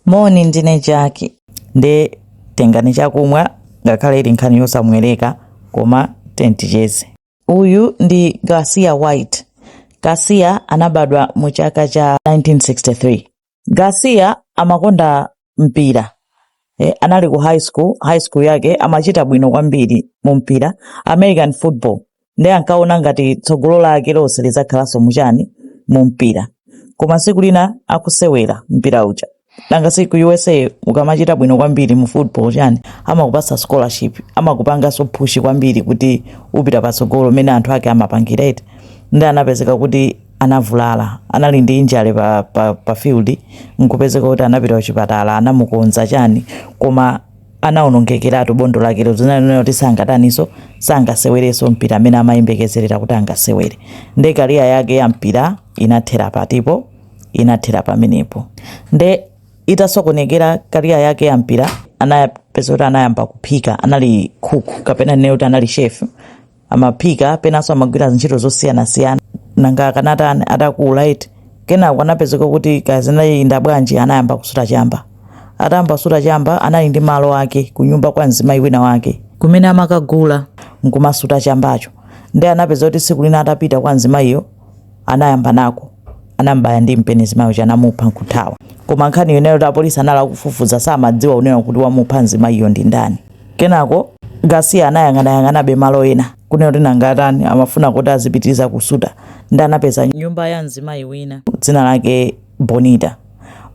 moni ndine jackie nde tengani chakumwa ngakhale ili nkhani yosamwereka koma tenticheze uyu ndi garcia white garcia anabadwa mu chaka cha 1963 garcia amakonda mpira eh, anali ku high school high school yake amachita bwino kwambiri mu mpira american football ndiye ankaona ngati tsogolo lake lonse lidzakhalanso muchani mu mpira koma siku lina akusewera mpira uja nanga si ku usa ukamachita bwino kwambiri mu football chani amakupasa scholarship amakupangaso push kwambiri kuti upita patsogolo mene anthu ake amapangira eti nde anapezeka kuti anavulala anali ndi injury pa, pa, pa field nkupezeka kuti anapita kuchipatala anamukonza chani koma anawonongekeratu bondo lakelo zonena kuti sangataniso sangasewereso mpira amene amayembekezerera kuti angasewere nde career yake ya mpira inathera patipo inathera pamenepo nde itasokonekera career yake ya mpira anapezeka kuti anayamba kuphika anali cook kapena nene kuti anali chef amaphika penanso amagwira ntchito zosiyanasiyana nanga akanatani atakula eti kenako anapezeka kuti kazinayinda bwanji anayamba kusuta chamba atayamba kusuta chamba anali ndi malo ake kunyumba kwa mzimayi wina wake kumene amakagula nkumasuta chambacho nde anapezeka kuti tsiku lina atapita kwa mzimayiyo anayamba nako anambaya ndi mpeni mzimayi uja anamupha nkuthawa koma nkhani yonena kuti apolisi anali akufufuza samadziwa kunena kuti wamupha mzimayiyo ndi ndani kenako garcia anayang'anayang'anabe malo ena kunena kuti nanga atani amafuna kuti azipitiriza kusuta nde anapeza nyumba ya mzimayi wina dzina lake bonita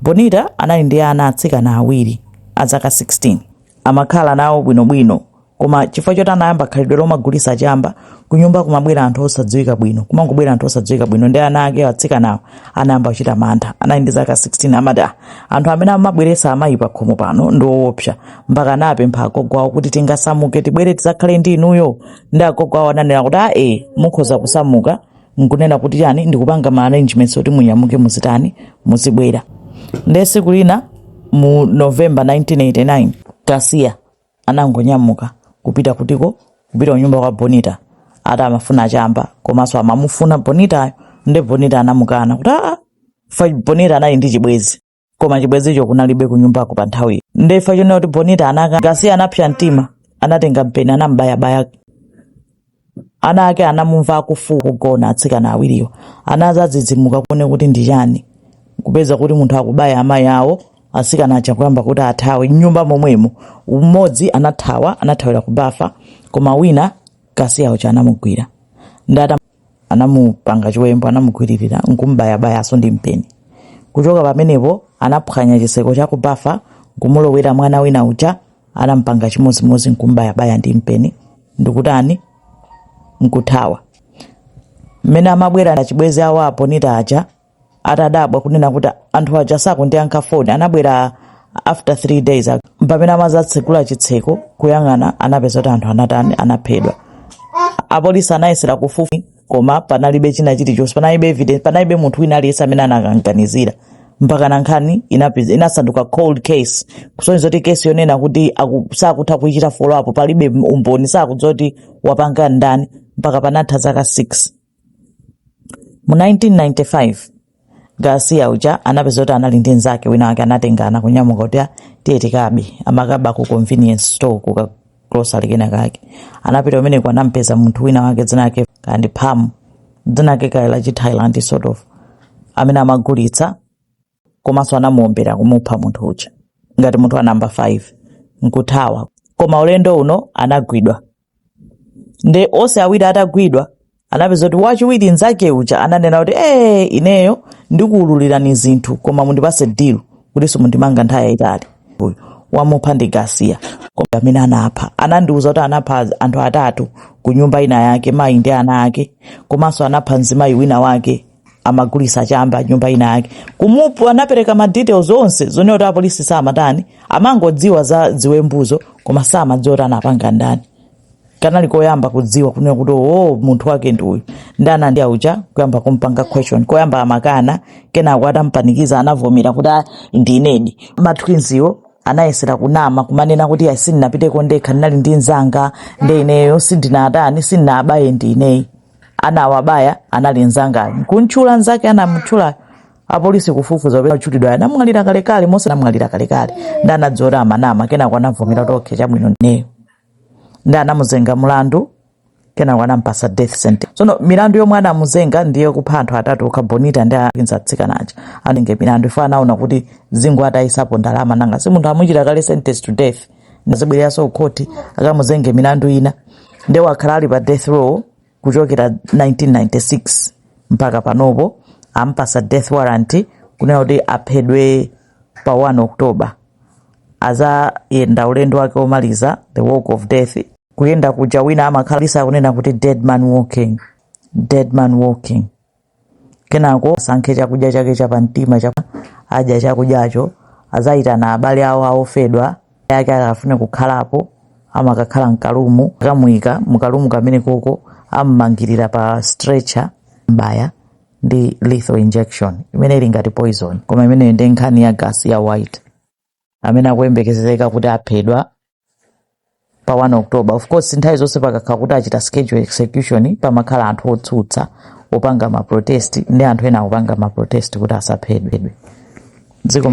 bonita anali ndi ana atsikana awiri azaka 16 amakhala nawo bwinobwino koma chifukwa choti anayamba khalidwe lomagulisa chamba kunyumba kumabwera anthu osadziwika bwino kumangobwera anthu osadziwika bwino nde ana ake atsikanawo anayamba kuchita mantha anali ndi zaka 16 amati "Ah, anthu amene amabweresa amayi pa khomo pano ndi owopsa mpaka anapempha agogo awo kuti tingasamuke tibwere tidzakhale ndi inuyo nde agogo awo ananena kuti a e mukhoza kusamuka nkunena kuti chani ndikupanga ma arrangements oti munyamuke muzitani muzibwera ndiye siku lina mu november 1989 garcia anangonyamuka kupita kutiko kupita kunyumba kwa bonita ati amafuna chamba komanso amamufuna bonitayo nde bonita anamukana kuti aa fa bonita anali ndi chibwezi koma chibwezicho kunalibe kunyumbako pa nthawiyo nde ifa chonena kuti bonita anakana garcia anapsa mtima anatenga mpeni anambayabaya Ana ake anamumva akufuula pogona. Atsikana awiriwo anazadzidzimuka kuone kuti ndi chiyani kupeza kuti munthu akubaya amayi awo. Atsikana aja kuyamba kuti athawe m'nyumba momwemo. M'modzi anathawa anathawira ku bafa koma wina Garcia uja anamugwira nde ata anamupanga chiwembu anamugwiririra nkum'bayabayanso ndi mpeni. Kuchoka pamenepo anaphwanya chitseko cha ku bafa nkumulowera mwana wina uja anampanga chimodzimodzi nkumbayabaya ndi mpeni ndikutani nkuthawa mmene amabwera achibwezi awo a Bonita aja atadabwa kunena kuti anthu aja sakundiyankha foni anabwera after three days ak- pamene amazatsegula chitseko kuyang'ana anapeza kuti anthu anatani anaphedwa apolisi anayesera kufufuza koma panalibe china chilichonse panalibe evidence panalibe munthu wina aliyense amene anakanganizira mpakana nkhani inapi- inasanduka cold case kusonyeza kuti case yonena kuti aku- sakutha kuichita follow up palibe umboni sakudziwa kuti wapanga ndani mpaka panatha zaka 6 mu 1995 garcia uja anapeza kuti anali ndi mnzake wina wake anatengana kunyamuka kuti "Ah, tiye tikabe amakaba ku convenience store ku ka grocery kena kake anapita kumeneko anampeza munthu wina wake dzina lake kandi pam dzina lake kale la chithailand sort of amene amagulitsa komanso anamuombera kumupha munthu uja ngati munthu wa number 5 nkuthawa koma ulendo uno anagwidwa nde onse awiri atagwidwa anapeza kuti wachiwiri nzake uja ananena kuti ee ineyo ndikuululirani zinthu koma mundipase deal kuti simundimanga nthawi yayitali uyu wamupha ndi Garcia koma amene anapha anandiuza kuti anapha anthu atatu ku nyumba ina yake mayi ndi ana ake komanso anapha mzimayi wina wake amagulisa chamba nyumba ina yake kumupu anapereka ma details onse zonena kuti apolisi samatani amangodziwa za ziwembuzo koma samadziwa kuti anapanga ndani kanali koyamba kudziwa kunena kuti o munthu wake ndi uyu ndana ndi auja kuyamba kumpanga question koyamba amakana kenako atampanikiza anavomera kuti "Ah, ndinedi ma twins wo anayesera kunama kumanena kuti "Ah, sindinapiteko ndekha ndinali ndi mzanga ndi ineyo sindinatani sindinabaye ndi ineyi anawabaya anali nzangayo nkumtchula nzake anamtchulayo apolisi kufufuza apeza otchulidwayo anamwalira kalekale mose anamwalira kalekale nde anadziwa kuti amanama kenako anavomera kuti okay chabwino ndineyo nde anamuzenga mlandu kenako anampasa death sentence sono milandu yomwe anamuzenga ndiye kupha anthu atatu okha bonita ndi akinza atsikana aja inayo milandu iyo anaona kuti zingowatayisapo ndalama nanga si munthu amuchita kale sentence to death nazibwereranso kukhoti akamuzenge milandu ina ndiye wakhala ali pa death row kuchokera 1996 mpaka panopo ampasa death warrant kunena kuti aphedwe pa 1 october azayenda ulendo wake womaliza the walk of death kuyenda kuja wina amakhala ali uko akunena kuti dead man walking dead man walking Kenako asankhe chakudya chake chapamtima adya chakudyacho, azayitana abale awo a ophedwa ake akafune kukhalapo, amakakhala m'kalumu, akamuyika mu kalumu kamenekoko, ammangirira pa stretcher, n'kumubaya ndi lethal injection imene ili ngati poison, koma imeneyo ndi nkhani ya Garcia White. amene akuyembekezeka kuti aphedwa pa 1 october of course nthawi zonse pakakhala kuti achita schedule execution pamakhala anthu otsutsa opanga maprotest ndi anthu ena akupanga maprotest kuti asaphedwe dziko